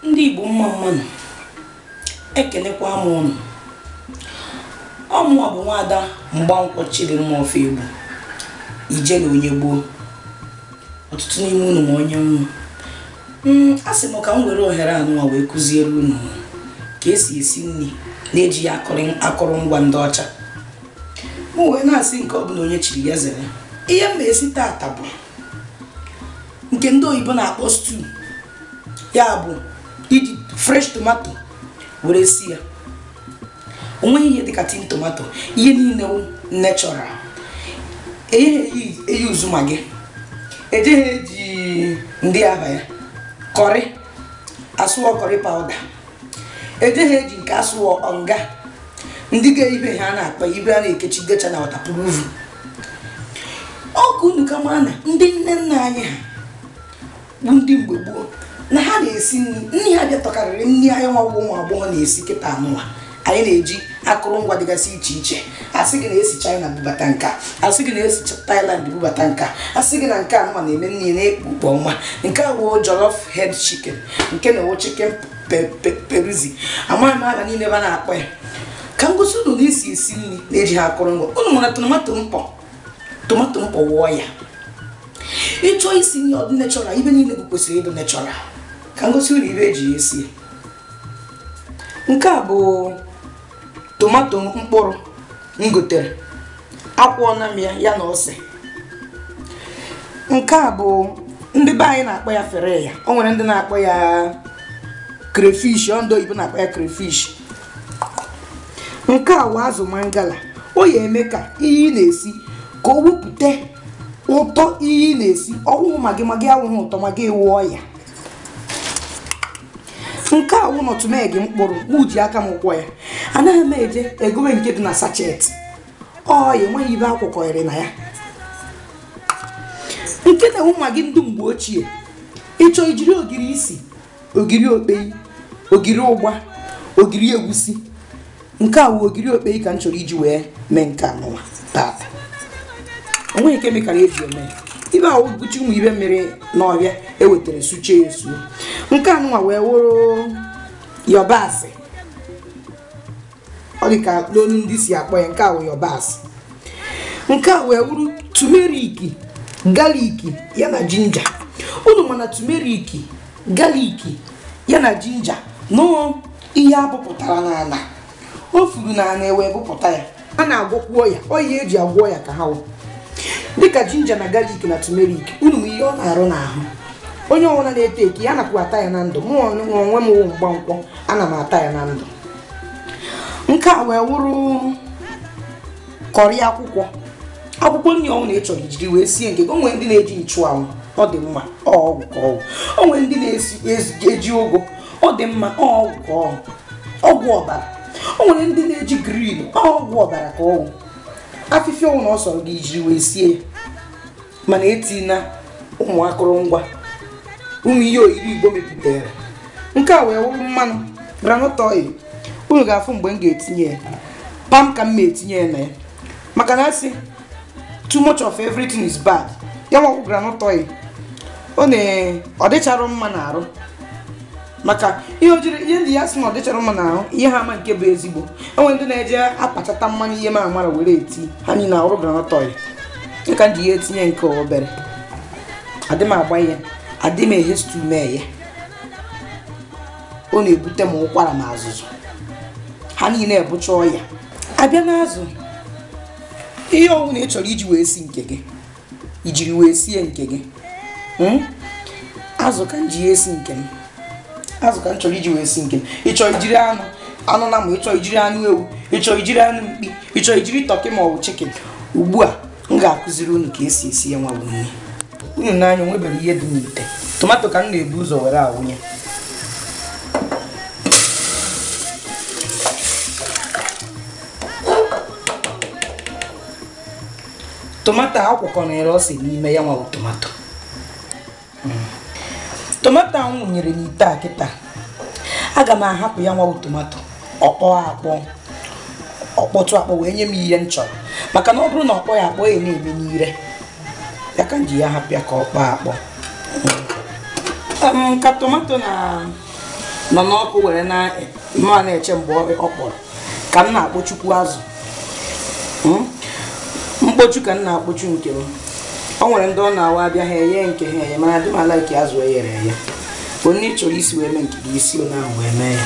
ndị Igbo mma mma nụ ekenekwa m unu ọ mụwa bụ nwada Mgbankwọ Chidimma Ofegbu Ijele onye gboo ọtụtụ n'ime unu ma onye m wụ hmm, a sị m ka m were ohere anụwa wee kụziere unu ka esi esi nri na-ejighị akụrụngwa ndị ọcha m wee na-asị nke ọ bụla onye chiri ya zere ihe m na-esi tata bụ nke ndị oyibo na-akpọ stew ya bụ iji fresh tomato were si ya o nweghị ihe dịka tin tomato ihe niile wụ natural eyeghị eyi uzu Maggi ejeghị eji ndị aba ya curry a sị ọ curry powder ejeghị eji nke a sị ọ Onga ndị ga ibe ha na-akpọ ibe a na-ekechigecha na waterproof ọ ka unu ka mara na ndị nne nna anyị ha bụ ndị mgbe gboo na ha na-esi nri nri ha bịa tọkarịrị nri anyị nwa bụ ụmụ agbọghọ na-esi kịta anụwa anyị na-eji akụrụngwa dịgasị iche iche asị gị na e si China bubata nka asị gị na e si Thailand bubata nka asị gị na nke anụwa na-eme nri na-ekpu ukpo ọma nke a wụ jollof head chicken nke na-ewo chicken peruzi amaghị m aha niile ba na-akpọ ya ka m gosi unu na e si esi nri na-ejighị akụrụngwa unu mara tomato mkpọ tomato mkpọ wụọ ya ị chọọ isi nri ọ dụ natural ibe niile bụ kwesịrị ịdụ natural ka m gosi unu ibe eji ya esi nke a bụ tomato mkpụrụ m gotere akwọọna m ya ya na ose nke a bụ ndị be anyị na-akpọ ya fere ya o nwere ndị na-akpọ ya crayfish ọ ndị oyibo na-akpọ ya crayfish nke a wụ azụ mangala ọ ya eme ka ihe ị na-esi ka o wepụta ụtọ ihe ị na-esi ọ wụhụ Maggi Maggi awụghị ụtọ Maggi awụọ ya nke a wụ nutmeg mkpụrụ mụ ji aka m kwọ ya anaghị m eje egowe nke dị na sachet ọ ya enweghị ibe a kwọkọrị na ya nke na-ewu Maggi ndị mgbe ochie ị chọọ i jiri ogiri isi ogiri okpei ogiri ụgba ogiri egwusi nke a wụ ogiri okpei ka m chọrọ iji wee mee nke anụwa tata o nweghị chemical eji eme ibe ahụ bụcha ụmụ ibe mịrị n'ọhịa e wetara suchie ya esuo nke anụwa wee wụrụ yọbasị ọ dị ka n'onu ndị si akpọ ya nke a wụ yọbasị nke a wee wuru tumeriki galiki ya na jinja unu ma na tumeriki galiki ya na jinja na ọ ihe abụpụtara n'ala o furu n'ala ewee bụpụta ya a na-agwọkwu ọya ọ ihe eji agwọ ọya ka ha wụ dịka jinja na galik na tumerik unu ma ihe ọ na-arụ n'ahụ onye ọbụla na-ete eke ya nakwa ata ya na ndụ mụ onwe m wụ mgbankwọ ana m ata ya na ndụ nke a wee wụrụ kọrị akwụkwọ akwụkwọ nri ọwụna ị chọrọ ijiri wee sie nke o nwere ndị na-eji nchụanwụ ọ dị mma ọgwụ ka ọ wụ o nwere ndị na-eji ụgụ ọ dị mma ọgwụ ka ọ wụ ọgwụ ọbara o nwere ndị na-eji grin ọgwụ ọbara ka ọ wụ afịfịa ọwụna ọ sọrọ gị ijiri wee sie ya mana etina ụmụ akụrụngwa ụmụ ihe oyibo igbo mepụtara nke a wee wụrụ mmanụ groundnut oil unu ga-afụ mgbe m ga-etinye ya pam ka m ma etinye ya na ya maka na asị too much of everything is bad ya nwakwu groundnut oil ọ dịcharụ mma n'arụ maka ihe ojiri ihe m ji ya sị na ọ dịchara mma n'ahụ ihe ha ama nke bụ ezigbo o nwe ndị na-eje akpachata mmanụ ihe ma amara were eti ha niile ọrụ groundnut oil dịka m ji ya etinye nke obere adị m agba ihe adị m eghe stew mee ya ọ na-ebute m ụkwara na azụzụ ha niile bụcha ọya a bịa n'azụ ihe ọwụna ị chọrọ iji wee si nke gị ijiri wee sie nke gị hmm? azụ ka m ji esi nke m azụ ka m chọrọ iji wee si nke m ịchọ ijiri anụ anụ nama ịchọ ijiri anụ ewu ịchọ ijiri anụ mkpi ịchọ ijiri tọkị ma ọ bụ chikin ugbu a m ga-akụziri unu ka esi esi ya nwa wụ nri unu nee anya o nwebere ihe dị n'ite tomato ka m na-ebu ụzọ were awụnye tomato a kwọkọnyere ose n'ime ya nwa wụ tomato mm. tomato ahụ m wụnyere n'ite a kịta aga m ahapụ ya nwa wụ tomato ọ kpọọ akpọ ọ kpọtụ akpọ wee nye m ihe m chọrọ maka na ọ bụrụ na ọkpọ ya akpọ ya na-eme n'ire ya ka m ji ya hapụ ya ka ọ kpọọ akpọ mm. um, ka tomato na nọ n'ọkụ were na m ma na-eche mgbe ọ kpọrọ ka m na-akpọchukwu azụ hmm? mkpochu ka m na-akpọchu nke m o nwere ndị ọ na-awụ a bịa ha eye nke ha eye mana adị m alaịkị azụ eyere eye onye ị chọrọ isi wee mee nke gị isi onye ahụ wee mee ya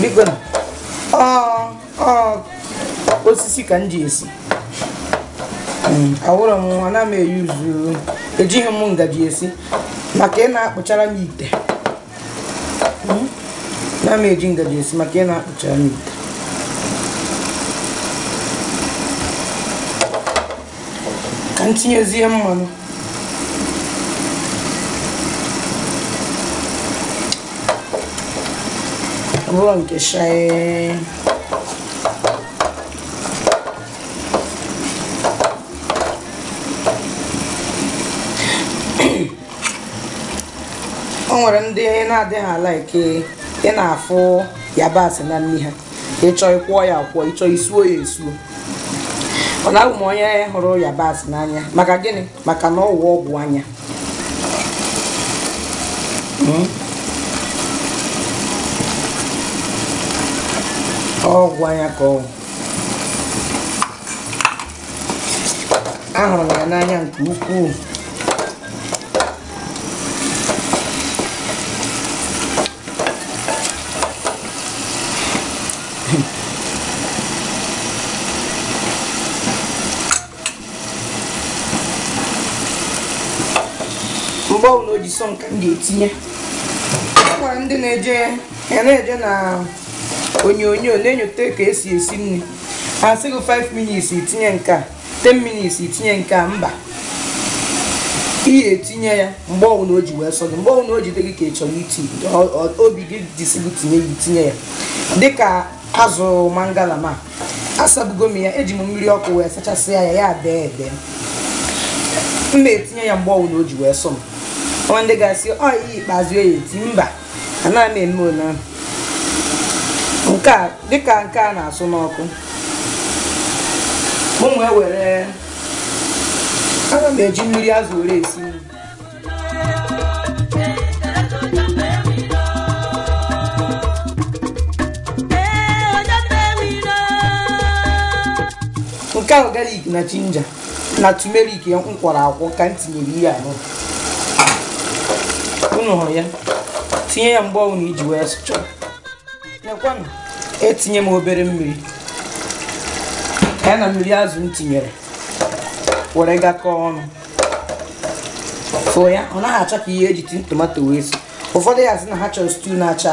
biko na osisi ka m ji esi hmm, awụrụ m ana m eyuzu ejighị m ngaji esi maka ị na-akpụchara m ite hmm, na m eji ngaji esi maka ị na-akpụchara m ite ka m tinyezie mmanụ ọ bụrụ nke shaye o nwere ndị na-adịghị alaiki ị na-afụ yabasị na nri ha ịchọ ịkwọ ya akwọ ịchọ isuo ya esuo mana abụ m onye hụrụ yabasị n'anya maka gịnị maka na ọwụ ọgwụ anya hmm? ọgwụ anya ka ọ wụ ahụrụ m ya n'anya nke ukwuu mgbe ọbụla o ji sọ m ka m ga-etinye o nwere ndị na-eje ya na-eje na onyonyo na-enyote ka esi esi nri ha sị gị 5 minutes itinye nke a 10 minutes itinye nke a mba ị ga-etinye ya mgbe ọbụla o ji wee sọ gị mgbe ọbụla o ji dị gị ka ị chọrọ iti ọ- ọ- obi gị ji sị gị tinye ya itinye ya dịka azụ mangala m a asabugo m ya eji m mmiri ọkụ wee sachasịa ya ya dee ede m na-etinye ya mgbe ọbụla o ji wee sọ m o nwee ndị ga-asị ọ ihe ikpeazụ ya eti mba anaghị m eme ole ahụ nke a dịka nke a na-asụ n'ọkụ m wee were ana m eji mmiri azụ were esi nri nke ahụ galik na jinja na tumerik m kwọrọ akwọ ka m tinyere ihe anụ unu hụrụ ya tinye ya mgbe ọbụla iji wee sụcha nekwanụ etinye m obere mmiri ya na mmiri azụ m tinyere were gwakọọ ọnụ fụọ ya ọ naghị acha ka ihe eji tin tomato wee si ụfọdụ ya-asị na ha chọrọ stew na-acha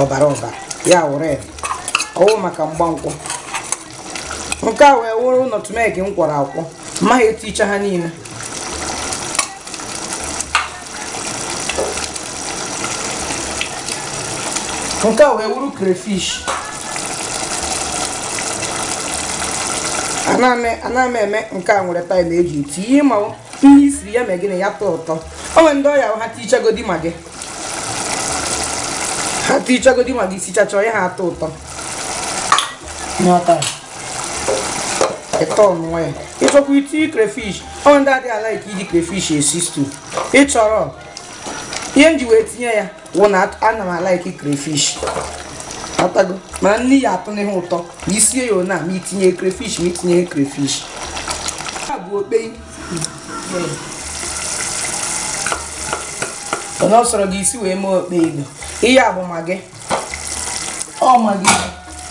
ọbara ọbara ya wụ red ọwụ maka mgbankwụ nke a wee wụrụ nutmeg m kwọrọ akwọ mmaghị eticha ha niile nke a wee wụrụ crayfish ana m eme nke a nwere time eji eti ihe ma ihe isiri ya mee gịnị ya tọọ ụtọ o nwere ndị ọ ya ha tichagodi maggi ha tichagodi maggi sichacha ọ yaha atọ ụtọ n'ọtara ịtọ ọnụ ya ị chọkwa iti crayfish o nwe ndị adịghị alaiki iji crayfish esi stew ị chọrọ ihe m ji wee tinye ya wụ na ana m alaiki crayfish atago mana nri ya atọ n'ihe ụtọ ma isie ya ona ma itinye crayfish ma itinye crayfish a bụ okpei onye ọ sọrọ gị isi wee mee okpei igbo ihe a bụ maggi ọ maggi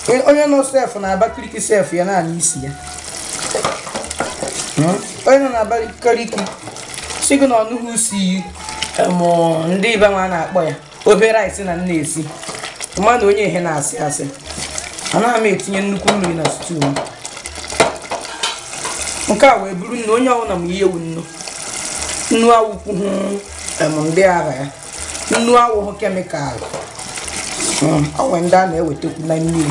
E- onye nọ sef na abakiriki sef ya na-anụ isi ya Hmm? onye nọ na abakiriki sị gị na ọ nụghị usi ya em, ndị ibe m na-akpọ ya obere isi na nna esi mana onye ihe na-asị asị anaghị m etinye nnukwu mmiri na stew m nke a wee bụrụ nnu onye ọbụla ma ihe wụ nnu nnu awụkwughị em, ndị ara ya nnu awụghị chemical Mm, o nwere ndị a na-ewetakwu na mmiri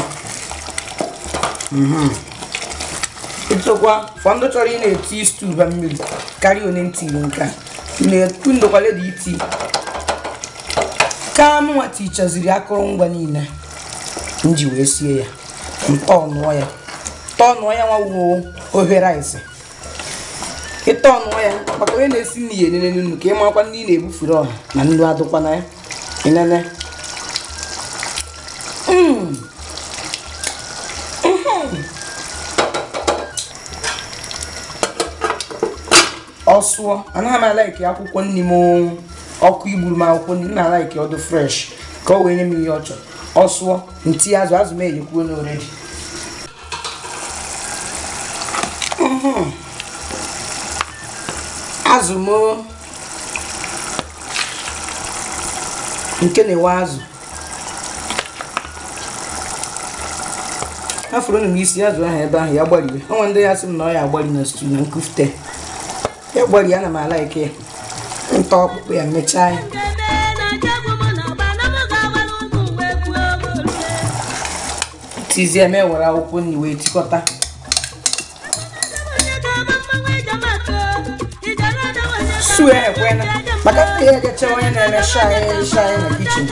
ịtụkwa for ndị chọrọ ị na-eti stew ba mmiri karịa onye ntiri nke a na-ekwu m dụkwa ready iti ka m nwa tichaziri akụrụngwa niile m ji wee sie ya m tọọnụọ ya tọọnụọ ya nwa wụ ofe rice ị tọọnụọ ya maka onye na-esi nri ya enene nnu ka ị makwa nri ị na-ebufere ọha na nnu adụkwa na ya enene Mm. ọ sụọ anaghị m alaiki akwụkwọ nri m ọkụ igburu m akwụkwọ nri m na-alaiki ọ dụ fresh ka o wee nye m ihe ọ chọrọ ọ sụọ m tii azụ azụ m eyekwuo already azụ m nke na-awa azụ afọrọ m isi ya azụ ahụ ebe ahụ ya gbarie o nwe ndị ya-asị m na ọ ya agbari na stew na nkufute ya gbarie ana m alaiki ịta ọkpụkpụ ya mechaa ya tizie m ewere akwụkwọ nri wee tikọta sue ekwena maka ndị ihe ga-eche onye na-eme shai shai na kichin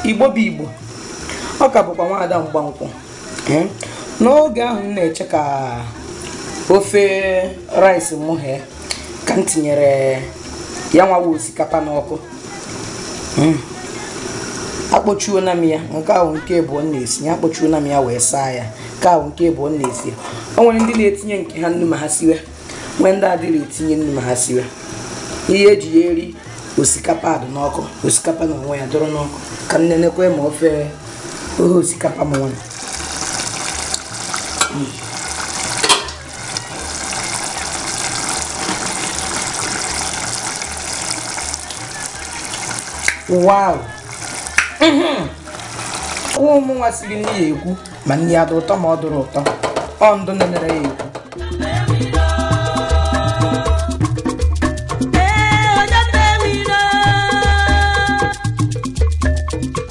igbo bụ igbo ọ ka bụkwa nwaada mgbankwụ Ee, n'oge ahụ m na-eche ka ofe rice mụ ghee ka m tinyere ya nwawa osikapa n'ọkụ hmm. akpọchuona m ya nke a wụ nke abụọ m na-esi ya akpọchuona m ya wee saa ya nke a wụ nke abụọ m na-esi ya o nwere ndị na-etinye nke ha nnu ma ha siwe nwee ndị adịghị etinye nnu ma ha siwe ihe eji ya eri osikapa adụ n'ọkụ osikapa na onwe ya dụrụ n'ọkụ ka m nenekwe ma ofe ohe osikapa m nwere wow mhm. ụmụ nwa siri nri ya ekwu ma nri ya dị ụtọ ma ọ dụrụ ụtọ ọ ndụ nenere ya ekwu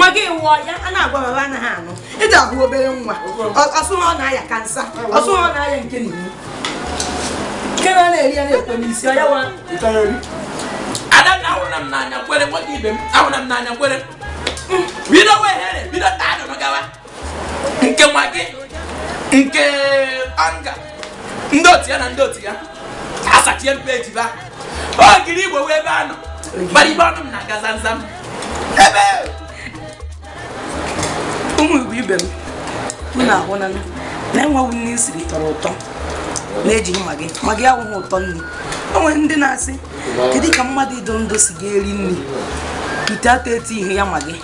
magi wụ ọya a na-agwa ba ba anaghị anụ ị dị ahụ obere nwa ọ sụ ha ọ na-aya kansa ọ sụ ha ọ na-aya nke na iwu nke na na-eri ya na-ekwe n'isi ọ ya wa adanna ahụrụ na m n'anya kwere nwanyị ibe m ahụrụ na m n'anya kwere bido wehere bido taa dụrụ gawa nke magi nke Onga ndị otu ya na ndị otu ya asachie m peeji ba ogiri igbo wụ ebe a nọ gbara ibe ọnụ m na-aga zamzam ebe ụmụ igbo ibe m unu ahụna na enwewu nri m siri tọrọ ụtọ na-ejighị magi magi awụghị ụtọ nri o nwere ndị na-asị kedu ka mmadụ ịdụ ndụ si ga-eri nri ite ata etinyeghị ya magi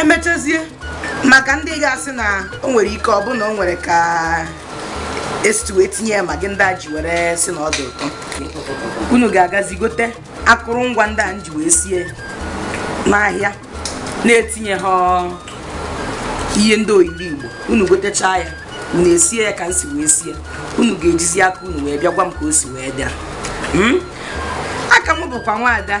emechazie maka ndị ga-asị na o nwere ike ọ bụ na o nwere ka esitu wee tinye ya magi ndị a ji were sị na ọ dị ụtọ unu ga-agazi gote akụrụngwa ndị a m ji wee sie n'ahịa na-etinye ha ihe ndị ogiri igbo unu gotechaa ya unu esie ya ka m si wee sie unu ga-ejizi aka unu wee bịa gwa m ka o si wee bịa hmm? a ka m bụkwa nwaada